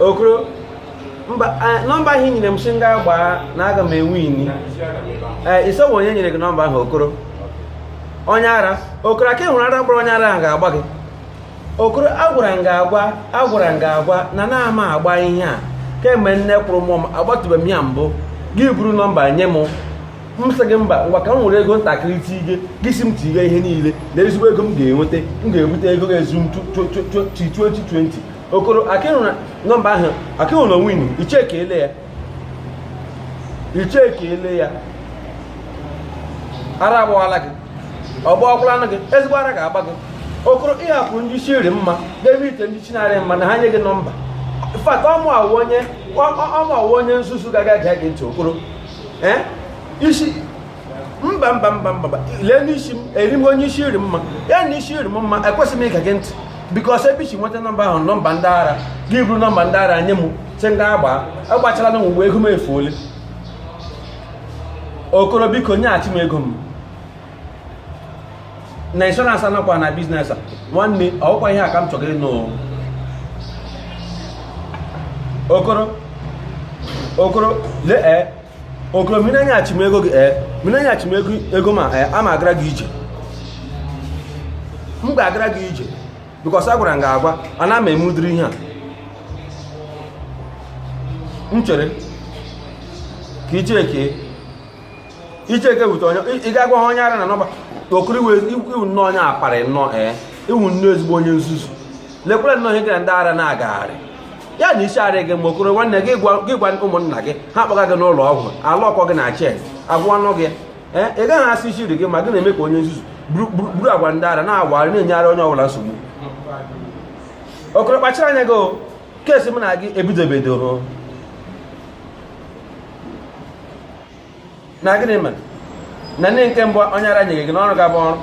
okoro mba eh, nọmba ahụ i nyere m sị m gaa gbaa na aga m ewini ee eh, ị sị ọ wụ onye nyere gị nọmba ahụ okoro onye ara okoro aka ịhụrụ ara gbara onye ara ahụ ga-agba gị okoro agwara m gị agwa agwara m gị agwa na anaghị m agba ihe a kemgbe nne kwụrụ mụọ m agbatụbeghị m ya mbụ gị buru nọmba nye m m sị gị mba ngwa ka m were ego ntakịrị tige gị si m tige ihe niile na ezigbo ego m ga-enweta m ga-ebute ego ga-ezu m 2020 okoro akịhụ na nọmba ahụ akịhụ na onwinu i checkele ya i checkele ya ara agbawala gị ọ gbawakwalanụ gị ezigbo ara ga-agba gị okoro ị hapụ ndị isi rị mma n'ebe ite ndị isi na-arị mma na ha nye gị nọmba fat ọ mụa wụ onye ọ mụa wụ onye nzuzu ga-ege gị ntị okoro ee isi mba mba mba mba lee n'isi m eri m onye isi rị mma ya na isi rị m mma ekwesịghị m ige gị ntị because ebe i si nweta nọmba ahụ nọmba ndị ara gị buru nọmba ndị ara nye m si ndị agba agbachala na mgbe ego m efuole okoro biko nyeghachi m ego m na insurance anọkwa na business a nwanne ọkwa ihe a ka m chọrọ ịnụ okoro okoro lee eh, okoro mmiri anya achịm ego gị ee mmiri anya achịm ego ego ma ee ama agara gị ije m ga-agara gị ije because agwara m gị agwa ana m eme ụdịrị ihe a m chere ka ị jeke ị jekwute onye ị ga-agwa ha onye ara na nọmba okoro ị wụ nnọọ onye apari nnọọ ee ị wụ nnọọ ezigbo onye nzuzu lekwere nnọọ ihe gị na ndị ara na-agagharị ya na isi arị gị mma okoro nwanne gị gwa ụmụnna gị ha kpọga gị n'ụlọ ọgwụ a lọkọọ gị na chain a gwọọnụ gị ee ị gaghị asị isi rị gị mma gị na-eme ka onye nzuzu buru agwa ndị ara na-awagharị na-enye ara onye ọbụla nsogbu okoro kpachara anya gị kesi m na gị ebidobedoro na gịnị mere na ndị nke mbụ onye ara nyeghị gị n'ọrụ ga-abụ ọrụ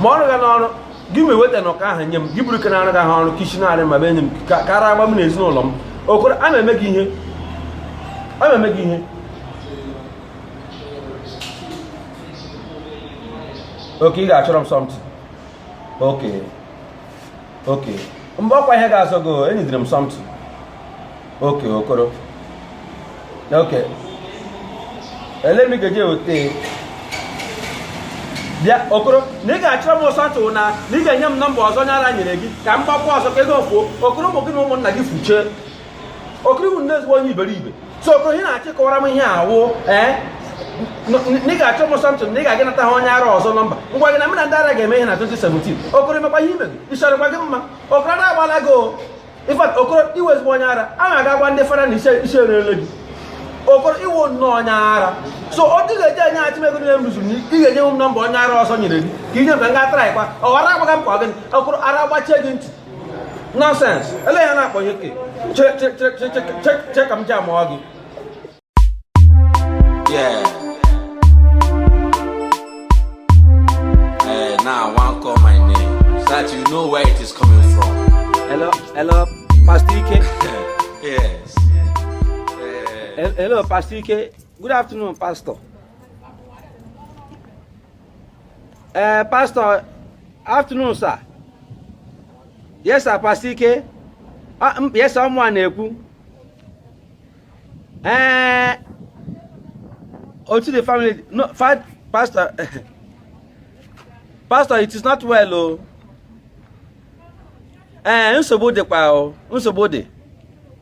ma ọrụ ga n'ọrụ gị ma eweta na ụka ahụ nye m gị buru nke na-arụgahụ ọrụ ke isi na-arị mma bịa nye m ka ara agba m na ezinụlọ m okoro a m eme gị ihe a m eme gị ihe okay ị ga-achọrọ m something okay okay mgbe ọkwa ihe ga-azọ gị enyidere m something okay okoro okay ele m ga-eji eweta bịa okoro na ị ga-achọrọ m something na na ị ga-enye m nọmba ọzọ onye ara nyere gị ka m gbakwa ọzọ ka ego fuo okoro ụmụ gị na ụmụnna gị fuchee okoro ị wụ nnọọ ezigbo onye iberibe so okoro ihe na-achọ ịkọwara m ihe a wụ ee na ị ga-achọ m something na ị ga-aga nata ha onye ara ọzọ nọmba ngwa gị na mụ na ndị ara ga-eme ihe na 2017 okoro emekwa ihe imegị ịchọrọkwa gị mma okoro ara agbaala gị o in fact okoro ị wụ ezigbo onye ara a na-aga gwa ndị fara na isi erele gị okoro ị wụ nnọọ onye ara so ọ dị ga-eji enyeachi m ego niile m rụzuru na ị ga-enye m nọmba onye ara ọzọ nyere gị ka i nye m ka m gaa traịkwa ọ ghara agbaga m kwa gịnị okoro ara gbachie gị ntị nọsens ele ya na-akpọ ya ke che ka m ji amụọ gị Yeah. Eh, now I want call my name so that you know where it is coming from. Hello, hello, Pastor Ike. yes. Eh, Hello, Pastor Ike. Good afternoon, Pastor. ee eh, pastọ afternoon sir yes sir pastọ ike ah, yes sir ọ mụa na-ekwu ee eh, how is the family no pastọ pastọ it is not well o oh. ee eh, nsogbu dịkwa o oh. nsogbu dị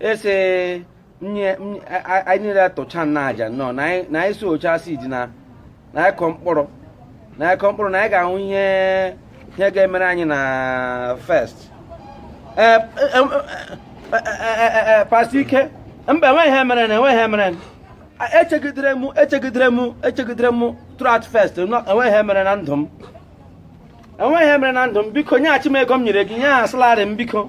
ị sị anyị niile tụcha nna aja nnọọ na anyị sowchaa seed na anyị kọọ mkpụrụ na anyị kọọ mkpụrụ na anyị ga-ahụ ihe ihe ga-emere anyị na first pastọ ike mba enweghị ihe mere na enweghị ihe mere echegidere m echegidere m echegidere m throughout first enweghị ihe mere na ndụ m enweghị ihe mere na ndụ m biko nyeghachi m ego m nyere gị ihe ahụ salary m biko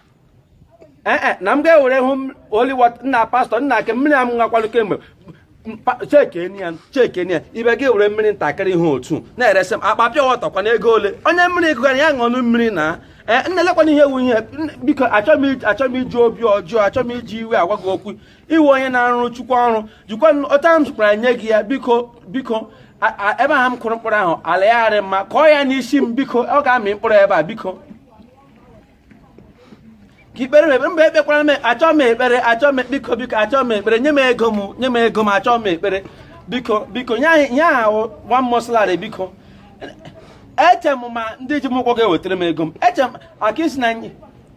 ee eh, eh, na m ga-ewere holy nna pastọ nna ike mmiri a m nwakwanụ kemgbe chekene ya chekene ya ibe gị were mmiri ntakịrị ihe otu na-eresị m akpa pure water kwa na ego ole onye mmiri gụgara ya ṅụọnụ mmiri na ee nna elekwana ihe wunye biko achọghị m iji obi ọjọọ achọghị m iji iwe agwa gị okwu ị wụ onye na-arụrụ chukwu ọrụ jikwa ọta m zụkwara nye gị ya biko biko ebe ahụ m kụrụ mkpụrụ ahụ ala ya arị mma kọọ ya n'isi m biko ọ ga-amị mkpụrụ ebe a biko ka i kpeere m ekpere mba ekpekwara m achọ m ekpere achọ m biko biko achọ m ekpere nye m ego m nye m ego m achọ m ekpere biko biko nye anyị ihe ahụ wụ one month salary biko eche m ma ndị ji m ụgwọ ga-ewetara m ego m eche m ka ị sị na nye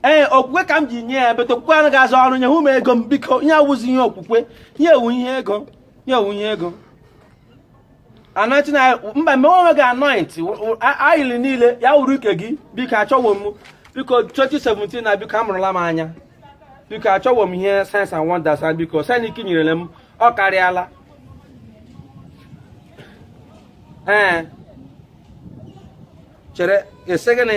ee okwukwe ka m ji nye ya but okwukwe anaghị arụ ọrụ nye hụ m ego m biko ihe a awụzị ihe okwukwe ihe a wụ ihe ego ihe a wụ ihe ego anointing oil mba mee onwe gị anoint oil niile ya wuru ike gị biko achọwo m biko 2017 na biko amụrụla m anya biko achọwo m ihe signs and wonders biko sign nke i nyerele m ọ karịala ee chere ị sị gịnị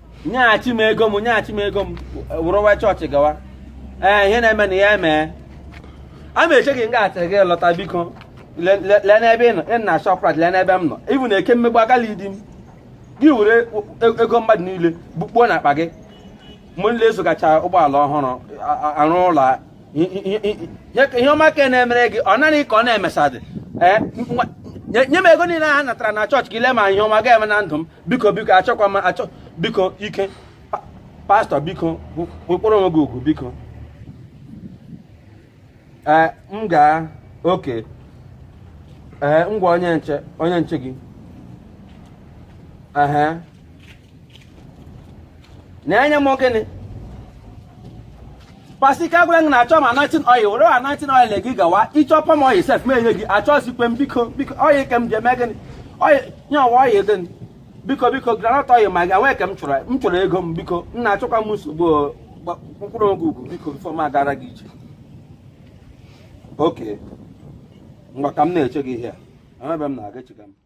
nyeghachi m ego m nyeghachi m ego m wụrụwa chọọchị gawa ee ihe na-eme na ya emee a ma eche gị nga achịrị gị lọta biko lee n'ebe ị nọ ị na Shoprite lee n'ebe m nọ ịbụ na eke mmegbu agala idi m gị were e, e, ego mmadụ niile bukpuo na akpa gị mgbe nile azụgacha ụgbọala ọhụrụ arụ ụlọ ihe ọma ka na-emere gị ọ naghị ka ọ na-emesadị ee nye m ego niile ha natara na chọọchị ka i lee ma ihe ọma ga-eme na ndụ m biko biko achọkwa m achọ biko ike pastor biko kpọrọ onwe gị ugwu biko ee m gaa okay ee ngwa onye nche onye nche gị ehe na-enye m gịnị pasi ka gwara gị na achọ m anointing oil were anointing oil gị gawa ị chọọ palm oil sef m enye gị achọzikwa m biko biko oil ka m ji eme gịnị oil nye ọwa oil gịnị biko biko groundnut oil ma gị nwee ka m chọrọ m chọrọ ego m biko nna achọkwa m nsogbu kpọrọ onwe gị ugwu biko before m agara gị ije okay mgbe ka m na-eche gị ihe a ebe m na-aga echiga m